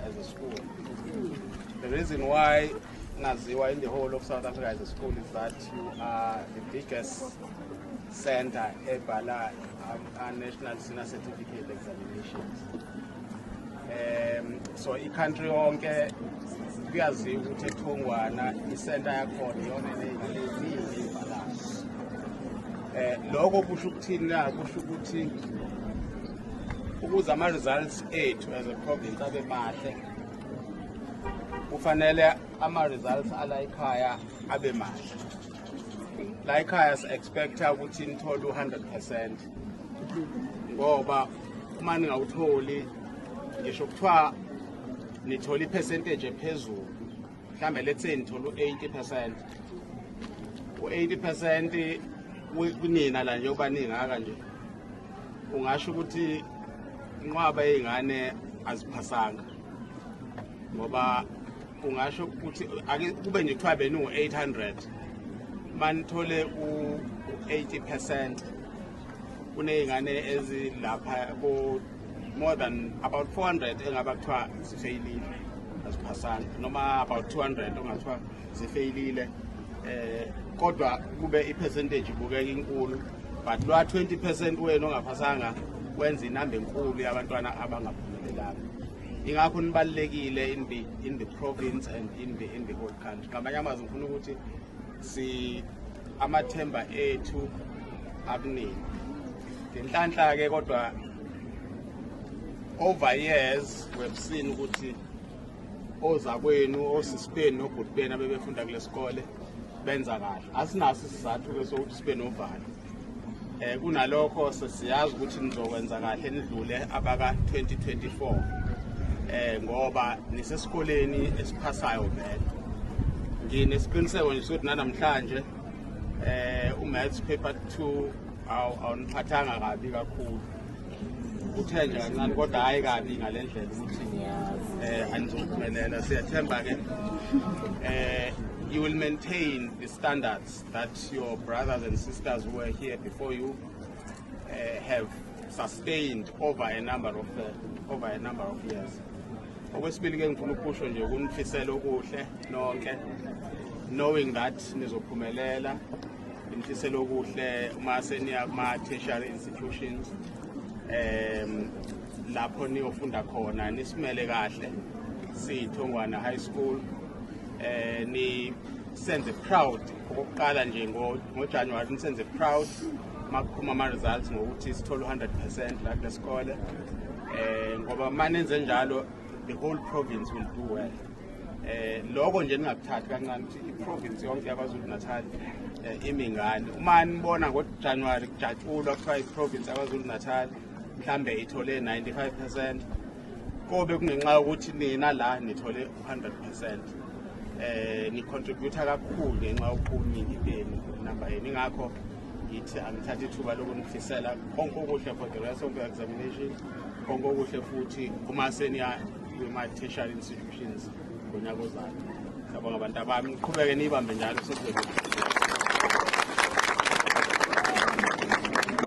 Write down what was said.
as a school. The reason why Naziwa in the whole of South Africa as a school is that you are the biggest center ebhala our national senior certificate examinations. Um, so i-country yonke kuyaziwa ukuthi ethungwana isenta yakhona iyona eneyiningi ibhalayo um eh, lokho kusho ukuthini na kusho ukuthi ukuze ama-results ethu as a province abe mahle kufanele ama-results ala ekhaya abe mahle la ekhaya si-expecta ukuthi nithole u-hundred percent ngoba uma ningawutholi ngisho kuthiwa nithola ipercentage ephezulu mhlawumbe let's say nithola u-80 percent u-80 percent kunina la njengoba ningaka nje ungasho ukuthi inqwaba yey'ngane aziphasanga ngoba ungasho ukuthi kube nje kuthiwa beningu-800 manithole u-80 percent kuney'ngane ezilapha more than about 400 engaba kuthiwa zifeyilile aziphasanga noma about 200 ongathiwa zifeyilile eh kodwa kube ipercentage ibukeka inkulu but lwa 20 percent wenu ongaphasanga wenza inamba enkulu yabantwana abangaphumelelanga ingakho nibalulekile in the, in the province and in the, in the whole country ngamanye amazwi ngifuna ukuthi si amathemba ethu akuningi ngenhlanhla ke kodwa over years webusini ukuthi ozakwenu osisibeni nobhuti benu abebefunda kule sikole benza kahle asinaso isizathu ke sokuthi sibe novalo Eh kunalokho sesiyazi ukuthi nizokwenza kahle nidlule abaka 2024. Eh ngoba nisesikoleni esiphasayo vele. Nginesiqiniseko nje sokuthi nanamhlanje eh umaths paper 2 awu awuniphathanga kabi kakhulu. Uthe nje kancane kodwa hayi kabi ngalendlela ukuthi eh anizophumelela siyathemba ke eh you will maintain the standards that your brothers and sisters who were here before you uh, have sustained over a number of uh, over a number of years okwesibili ke ngifuna ukusho nje ukunifisela okuhle nonke knowing that nizophumelela ngifisela okuhle uma seniya kuma tertiary institutions um lapho niyofunda khona nisimele kahle sithongwana high school eh ni senze proud okokuqala nje ngojanuwari ngo nisenze proud makuphuma ama-results ngokuthi sithole u-100 percent la kule sikole um ngoba uma nenze njalo the whole province will do well um loko nje ningakuthathi kancane ukuthi iprovince yonke yakwazulu natal um eh, imi ngani uma nibona ngojanuwari kujatshulwa kuthiwa iprovince yakwazulu natal mhlawumbe ithole 95 percent kobe kungenxa yokuthi nina la nithole 100% eh ni contribute kakhulu ngenxa yokuningi benu namba yenu ingakho ngithi angithathe ithuba lokunifisela konke okuhle for the rest of the examination konke okuhle futhi uma seniya kuma-tertiary institutions ngonyaka ozayo sabonga abantu abami niqhubeke niyibambe njalo sekuzobe